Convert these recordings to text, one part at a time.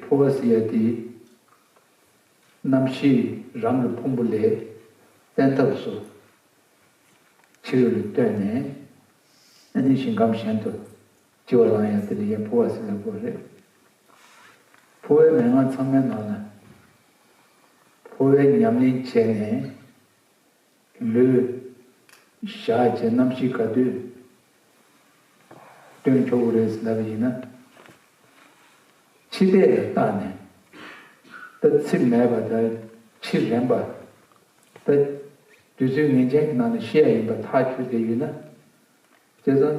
ཕོ་བ་སི་ཡ་ཏིའི། རྣམ་ཤེས་རང་གི་ཕུང་པོ་ལས། བསྟན་ཐབས་སུ། ཕྱི་རོལ་ལས་བཏོན་ནས། ཨེ་ནི་ཞིང་ཁམས་གཞན་དུ། ལྕི་བ་བླངས་ཡ་ཏི་ལི་ཡའི་ཕོ་བ་སི་ལ་གོ་རེ། ཕོ་བའི་མན་ངག་ཚང་མའི་ནང་ན། ཕོ་བའི་ཉམས་ལེན་བྱས་ནས། ལུས། བཞག་བྱའི་རྣམ་བཞི་ག་དུས། སྟོན་ཆོག་འུ་རེས་ཟླ་བ་ཡིན་ན། འཆི་ལྟས་ལ་བརྟགས་ནས། ད་ཚིགས་མེད་པ་ད་འཆི་རན་པ། ད་དུས་ཚོད་ངེས་ཅན་གྱི་ནང་ལ་ཤི་ཡ་ཡིན་པ་ཐག་ཆོད་དེ་ཡོད་ན། དེ་ཙམ།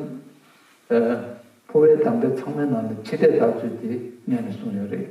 ཕོ་བའི་དམ་དྲ་ཚང་མའི་ནང་ལ་འཆི་ལྟས་བརྟག་ཚུལ་དེ་གནད་ནས་གསུངས་ཡོད་རེད།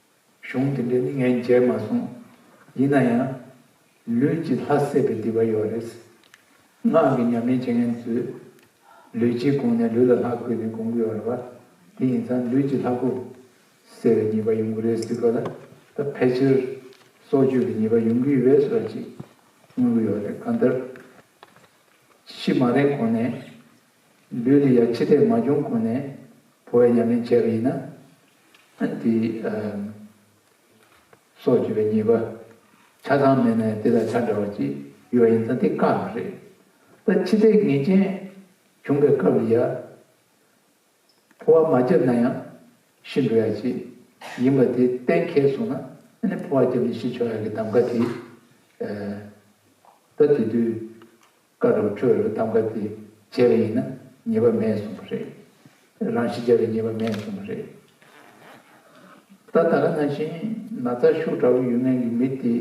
གཞུང་དེ་འདྲས་ནི་ངས་མཇལ་མ་སོང། ཡིན་ན་ཡང། ལུས་ཀྱི་ལྷ་བསད་པའི་བདེ་བ་ཡོད་རེད། ངག་གི་ཉམས་ལེན་བྱེད་མཁན་ཚོས། ལུས་ཀྱི་གོང་ནས་ལུས་ལ་ལྷ་བསྐོས་ནས་གོང་གི་ཡོད་རེད་བ། དེ་ཡིན་ཙང་ལུས་ཀྱི་ལྷ་བསྐོ། ཟེར་བའི་ཉེས་པ་ཡོང་གི་རེད་ཟེར་གི་ལ། ད་ཕལ་ཆེར། སྲོག་གཅོད་ཀྱི་ཉེས་པ་ཡོང་གི་ཡོད་ཟེར་བ་ཅིག། མངོན་གི་ཡོད་རེད་གང་ལྟར། ཕྱི་མ་རེད་གོང་ནས། ལུས་དེ་ཡང་འཆི་ལྟས་མ་བྱུང་གོང་ནས་ཕོ་བའི་ཉམས་ལེན་བྱས་པ་ཡིན་ན། དེ་སྲོག་གཅོད་པའི་ཉེས་པ་ཆ་ཚང་མེད་ནས་དེ་དང་ཆ་འདྲ་བ་ཅིག་ཡོད་པ་ཡིན་ཙང་དེ་བཀག་ན་རེད། ད་འཆི་ལྟས་ངེས་ཅན་བྱུང་པའི་སྐབས་ལ་ཡང། ཕོ་བ་མ་བརྒྱབ་ན་ཡང་ཤི་འགྲོ་ཡ་ཅིག་ཡིན་པ་དེ་གཏན་འཁེལ་སོང་ན་ནི་ཕོ་བ་བརྒྱབ་ནས་ཤི་ཆོག་ཡ་གི་གདམ་ཀ་དེ། ད་དེ་དུས་བཀའ་དྲུག་ཁྲོད་ལ་ཐམ་ག་དེ་བྱས་པ་ཡིན་ན་ཉེས་པ་མེད་གསུངས་པ་རེད། རང་ཤི་བྱས་པའི་ཉེས་པ་མེད་གསུངས་པ་རེད། ད་ད་ལ་ན་བཞིན་ན་ཚ་ཤུགས་དྲག་པོ་ཡོད་མཁན་གྱི་མི་དེ་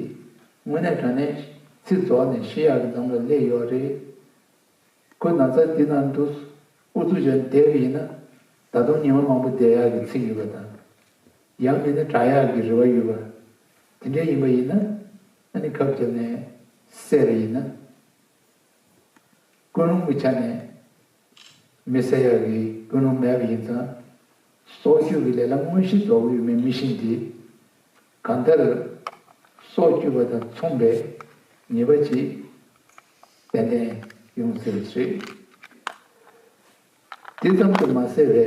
དངོས་གནས་དྲ་གནས་ཚིག་རྫོགས་ནས་ཤི་ཡག་གི་འདམ་ལ་སླེབས་ཡོད་རེད། ཁོས་ན་ཚ་འདི་ནང་དུ་ཨུ་ཚུགས་བྱས་ནས་བསྡད་པ་ཡིན་ན་ད་དུང་ཉི་མ་མང་པོ་བསྡད་ཡག་གི་ཚིག་ཡོད་པ་དང། ཡང་མིན་ན་དྲག་ཡག་གི་རེ་བ་ཡོད་པ། དེ་འདྲའི་ཡིན་པ་ཡིན་ན། ཨ་ནི་ཁབ་ཀྱི་ནི་གསེར་ཡིན་ན། ཀུན་སློང་གི་ཆ་ནས་མི་གསལ་ཡ་གི་ཀུན་སློང་མེད་པ་ཡིན་ཙང། སྲོག་གཅོད་ཀྱི་ལས་ལ་དངོས་གཞི་རྫོགས་པ་ཡོད་མེད་མི་ཤེས་དེ། གང་ལྟར། སྲོག་གཅོད་པ་དང་མཚུངས་པའི་ཉེས་པ་ཅིག་ཏན་ཏན་ཡོང་ཟེར་བ་རེད། དེ་ཙམ་དུ་མ་ཟད་པའི།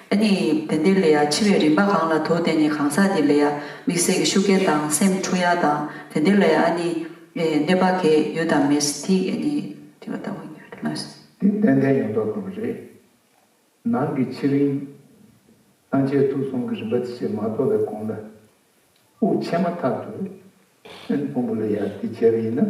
ནི། དེ་འདི་ལས་ཡང་འཆི་བའི་རིམ་པ་གང་ལ་དུ་དེ་ནི་གང་ཟག་འདི་ལས་ཡང་མིག་ཟད་ཀྱི་ཤུགས་རྐྱེན་དང་སེམས་འཁྲུགས་ཡང་དང་དེ་འདི་ལས་ཡང་ནི། གནོད་པ་གས་ཡུལ་དང་མི་ཐི་གས་ནི་ཐི་བ་ལྟ་བུ་ཉིད་ལ་ལོས། དེ་ཏན་ཏན་ཡོང་དོགས་དང་རེས་ནང་གི་ཕྱི་རིམ། སྣང་ཆའི་ཐུགས་གསུང་གི་རིམ་པ་དེ་བྱེད་མ་ཐོབ་པའི་གོང་ལ་དབུགས་ཆད་མ་ཐག་ཏུ། སེམས་སྤོམ་པོ་ལ་ཡང་དེ་བྱས་པ་ཡིན་ན།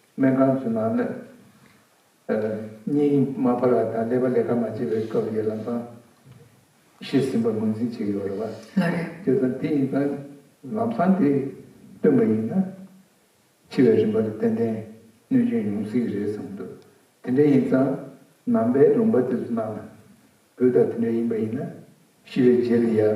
སྨན་ཁང་གི་ནང་ནས་སྙིང་མ་འཕར་བ་དང་ཀླད་པ་ལས་ཀ་མ་བྱེད་པའི་སྐབས་ཡོད་ལམ་སང་ཤི་ཟིན་པར་ངོས་འཛིན་བྱས་ཡོད་རེད་བ། ལ་རེད། དེ་ཙམ་དེ་ཡིན་ཙང་ལམ་སང་དེ་སྟོན་པ་ཡིན་ན་འཆི་བའི་རིམ་པ་ལ་ཏན་ཏན་གནོད་སྐྱོན་ཡོང་སྲིད་ཀྱི་རེད་བསམ་འདུག་དེ་འདྲ་ཡིན་ཙང་ནང་པའི་ལུང་པ་དེ་ཚོ་ནང་ན་བུ་དང་དེ་འདྲ་ཡིན་པ་ཡིན་ན་ཤི་བའི་རྗེས་ལ་ཡ།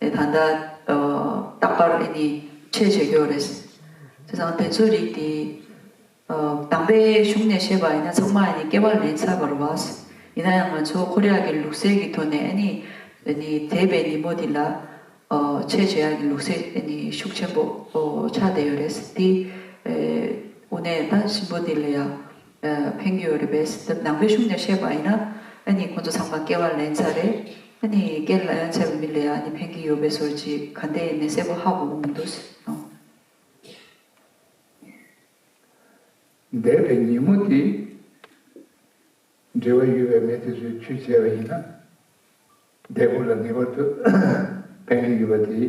ད་ལྟ་རྟག་པར་འདི་ནི་འཆད་བྱེད་ཀྱོ་རེད། དེ་དང་དེ་ཚོའི་རིགས་དེ། དམ་པའི་གཞུང་ནས་བཤད་པ་ཡིན་ན་ཚང་མ་ཡི་ནི་སྐྱེ་བ་ལན་ཚྭ་བར་བགས། ཡིན་ན་ཡང་ང་ཚོ་ཁོ་རེ་ཡ་གི་ལུགས་སྲད་ཀྱི་ཐོག་ནས་ཨེ་ནི། ཨེ་ནི་དེས་པའི་ཉིན་མོ་དེ་ལ། འཆད་བྱེད་ཡ་གི་ལུགས་སྲད་ཨེ་ནི་ཤུགས་ཆེན་པོ་ཆགས་བསྡད་ཡོད་རེད། དེ། འུ་ནས་ད་གཤིན་པོ་དེ་ལ་ཡ། ཕན་གྱི་ཡོད་རེད་པས། འདི་ནང་པའི་གཞུང་ཀྱང་བཤད་པ་ཡིན་ན། ཨ་ནི་ཁོ་ཚོ་ཚང་མ་སྐལ་བ་ལན་ཚ་རེད། ཨ་ནི་སྐལ་ལན་ཚ་བའི་མི་ལས་ཨ་ནི་ཕན་གྱི་ཡོད་པའི་སོར་ཅིག་ག་འདི་ཡིན་ནི་གསལ་པོ་ཧ་གོ་གི་མི་འདུག་ཨང། འདས་པའི་ཉིན་མོ་དེ། འབྲེལ་བ་ཡོད་པའི་མི་དེ་ཚོས་ཁྱུ་བྱས་པ་ཡིན་ན། འདས་པོ་ལ་ངེས་པར་དུ་ཕན་གྱི་ཡོད་པ་དེ།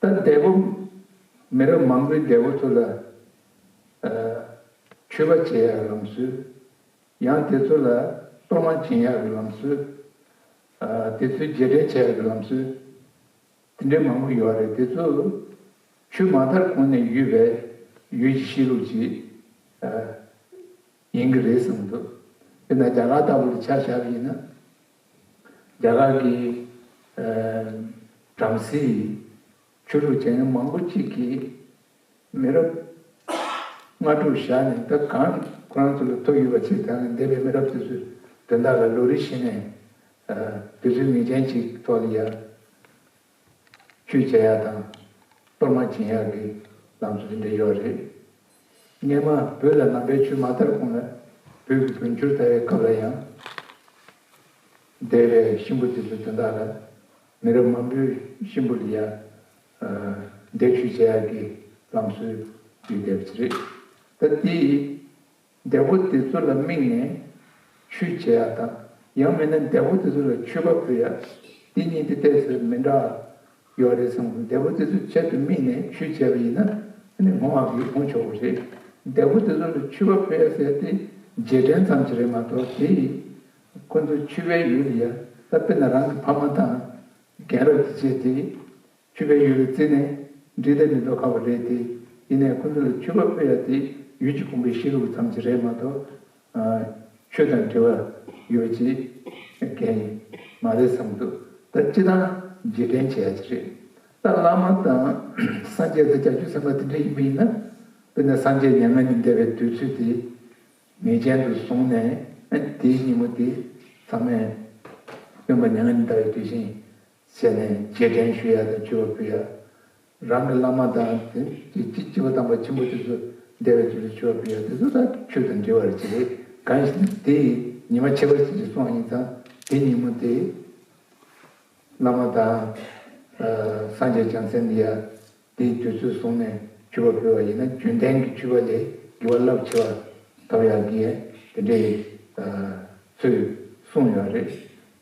ད་འདས་པོ་མི་རབས་མང་པོའི་འདས་པོ་ཚོ་ལ་འཁྱུད་པ་བྱེད་ཡག་ལམ་སྲོལ། ཡང་དེ་ཚོ་ལ་གཏོར་མ་སྦྱིན་ཡག་གི་ལམ་སྲོལ། དེ་ཚོའི་རྗེས་དྲན་བྱེད་ཡག་གི་ལམ་སྲོལ། དེ་འདྲའི་མང་པོ་ཡོད་རེད་དེ་ཚོ་ཆུ་མ་དར་གོང་ནས་ཡོད་པས་ཡུལ་གྱི་གཤིས་ལུགས་ཅིག་ཡིན་གྱི་རེད་བསམ་འདུག་དེ་ན་རྒྱ་གར་ལྟ་བུ་ལ་ཆ་བཞག་པ་ཡིན་ན། རྒྱ་གར་གྱི་བྲམ་ཟེ་ཡི་ཆོས་ལུགས་ཅན་མང་པོ་གཅིག་གིས་མི་རབས་ལྔ་དྲུག་བཞག་ནས་ད་གང་ཁོ་རང་ཚོ་ལ་ཐུག་ཡོད་པ་ཚོས་ད་ནི་འདས་པའི་མི་རབས་དེ་ཚོས་དོན་དག་ལ་ལོ་རེ་བཞིན་ནས་དུས་ཚོད་ངེས་ཅན་ཅིག་ཐོག་ལ་ཡར་ཆོས་བྱེད་ཡག་དང་གཏོར་མ་བྱིན་ཡག་གི་ལམ་སྲོལ་འདི་འབྲི་ཆོག་རེད། སྙེ་མ་བོད་ལ་ནང་པའི་ཆོས་མ་དར་གོང་ལ་བོད་ཀྱི་བོན་ཆོས་དར་བའི་སྐབས་ལ་ཡང། སྡེ་བའི་གཤིན་པོ་དེ་ཚོས་དོན་དག་ལ་མི་རབས་མང་པོའི་གཤིན་པོ་ལ་ཡང་སྡེ་ཆོས་བྱེད་ཡག་གི་ལམ་སྲོལ་བརྒྱུད་བསྡད་པ་རེད། ད་དེ་ཡི་འདས་པོ་དེ་ཚོ་ལ་དམིགས་ནས་ཆུས་བྱེད་ཡག་དང་ཡང་མིན་ན་འདས་པོ་དེ་ཚོ་ལ་ཆུས་ཁ་ཕུད་ཡག་འདི་གཉིས་ཀྱི་གཏད་སོ་མི་འདྲ་ཡོད་རེད་བསམ་གོ་འདས་པོ་དེ་ཚོ་ཆེད་དུ་དམིགས་ནས་ཆུས་བྱས་པ་ཡིན་ན་ནི་ངོ་མ་གིས་འོང་ཆོག་གོ་རེད་འདས་པོ་དེ་ཚོ་ལ་ཆུས་ཁ་ཕུད་ཡག་ཟེར་དེ་རྗེས་དྲན་ཙམ་གྱི་རེད་མ་གཏོགས་དེ་ཡིས་ཁོ་ཚོ་ཆུས་བའི་ཡུལ་ཡ་ད་དཔེར་ན་རང་གི་ཕ་མ་དང་རྒན་རབས་དེ་བྱས་དེ། ཆུ་བེད་ཡོད་པའི་རྩེ་ནས་འབྲི་སྟབས་མི་ལྡོག་ཁ་བོ་རེད་དེ། ཡིན་ནའི་ཁོ་ཚོ་ལ་ཆུ་བ་ཕུད་ཡ་དེ་ཡུལ་གྱི་ཁུང་བའི་ཤེལ་ལུག་ཙམ་གྱི་རེད་མ་གཏོགས། ཆུ་དང་འབྲེལ་བ་ཡོད་ཅེས་བརྒལ་ཡིན་མ་རེད་བསམ་འདུག་ད་སྤྱི་དང་རྗེས་དྲན་བྱེད་ཡ་གཅིག་རེད། ད་བླ་མ་དང་སངས་རྒྱས་དང་ལྕགས་ཀྱུ་ཟེར་མ་དེ་འདྲ་ཡིན་པ་ཡིན་ན། དཔེར་ན་སངས་རྒྱས་མྱ་ངན་ལས་འདས་པའི་དུས་ཚོད་དེ་ངེས་ཅན་དུ་བཟུང་ནས་དེའི་ཉིན་མོ་དེ་ཚང་མས་སྟོན་པ་མྱ་ངན་ལས་འདའ་བའི་དུས་བཞིན་བྱས་ནས་རྗེས་དྲན་ཞུ་ཡག་དང་སྤྱི་བ་ཕུལ་ཡག། རང་གི་བླ་མ་དང། སྤྱི་བ་དམ་པ་ཆེན་པོ་དེ་ཚོ་འདས་པའི་ཚུལ་དུ་སྤྱི་བ་ཕུལ་ཡག་དེ་ཚོ་དང་ཆོས་དང་འབྲེལ་བ་རེ་བྱེད་རེས་གང་ཞིག་ནི་དེ་ཡི་ཉི་མ་ཁྱད་པར་ཅན་གྱི་སོང་ཡིན་ཙང་དེ་ཉིན་མོ་དེ། བླ་མ་དང། སངས་རྒྱས་བྱང་སེམས་ཡ། དེའི་དུས་ཚོད་བཟུང་ནས་སྤྱི་བ་ཕུལ་བ་ཡིན་ན་རྒྱུན་ལྡན་གྱི་སྤྱི་བ་ལས་བགྱི་བ་རླབས་ཆེ་བ་གདབ་ཡག་གི། དེ་འདྲའི། ཚུལ་གསུངས་ཡོད་རེད།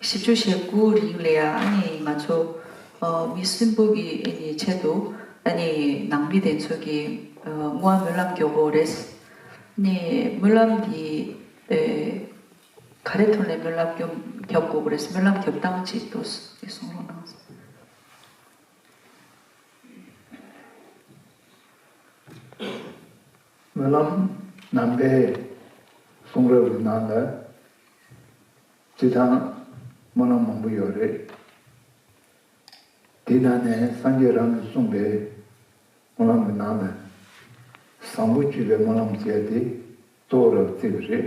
བཞི་བཅུ་ཞེ་དགུ་རིང་ལ་ང་ཚོ་མི་གསུམ་པོ་གི་ཆེད་དུ་ནང་མི་དེ་ཚོ་གི་སྔོན་མ་སྨོན་ལམ་རྒྱོབ་བོ་རེད། སྨོན་ལམ་དེ་ག་རེ་ཐོན་ལ་སྨོན་ལམ་རྒྱོབ་དགོས་པོ་རེད། སྨོན་ལམ་རྒྱོབ་སྟངས་ཅིག་ལྟོས་གསུངས་རོགས་གནང། སྨོན་ལམ་ནམ་མཁའི་གསུང་རབ་ཀྱི་ནང་ལ་བརྩི་ཐང་སྨོན་ལམ་མང་པོ་ཡོད་རེད། དེའི་ནང་ནས་སངས་རྒྱས་རང་གིས་གསུངས་པའི་སྨོན་ལམ་གྱི་ནང་ལ་བཟང་པོ་བཅུ་པའི་སྨོན་ལམ་ཟེར་ཏེ་གཙོ་བོ་རབ་བརྩི་བ་རེད།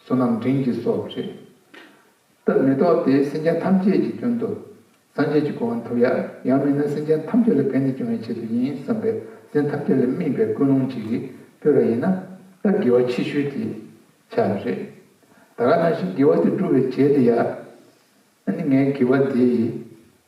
བསོད་ནམས་འབྲིང་གི་སྲོག་རེད། ད་མེ་ཏོག་དེ་སེམས་ཅན་ཐམས་ཅད་ཀྱི་རྒྱུན་དུ། སངས་རྒྱས་ཀྱི་གོ་བ་འཐོབ་ཡ། ཡང་མིན་ན་སེམས་ཅན་ཐམས་ཅད་ལ་ཕན་བདེ་སྐྱོང་བའི་ཆེད་དུ་ཡིན་བསམ་པས་སེམས་ཐམས་ཅད་ལ་སྨིན་པའི་ཀུན་སློང་ཅིག་གིས་སྤོས་པ་ཡིན་ན། ད་དགེ་བ་ཆེ་ཤོས་དེ་ཆགས་པ་རེད། ད་ག་ནང་བཞིན་དགེ་བ་དེ་སྒྲུབ་པའི་བྱེད་དེ་ཡ། ཨ་ནི་ངའི་དགེ་བ་དེ་ཡིས།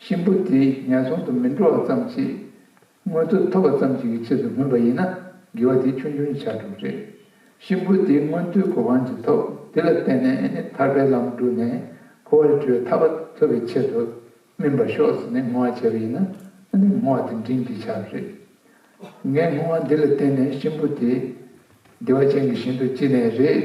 གཤིན་པོ་དེས་ངན་སོང་དུ་མི་འགྲོ་བ་ཙམ་གྱིས་མངོན་མཐོ་ཐོབ་པ་ཙམ་གྱིས་ཀྱི་ཆེད་དུ་མིན་པ་ཡིན་ན་དགེ་བ་དེ་ཆུང་ཆུང་ཆགས་གྲུབ་རེད། གཤིན་པོ་དེས་མངོན་མཐོའི་གོ་འཕང་ཅི་ཐོབ་དེ་ལ་བརྟེན་ནས་ནི་ཐར་པའི་ལམ་བསྒྲུབས་ནས་འཁོར་བར་བཅོས་ཐར་པ་ཐོབ་པའི་ཆེད་དུ་སྨིན་པར་ཤོག་ཟེར་ནས་བསྔོ་བ་བྱས་པ་ཡིན་ན་ནི་བསྔོ་བ་དེ་འབྲིང་གིས་ཆགས་པ་རེད། ངས་བསྔོ་བ་འདི་ལ་བརྟེན་ནས་གཤིན་པོ་དེ་བདེ་བ་ཅན་གྱི་ཞིང་དུ་སྐྱེས་ནས་རེད།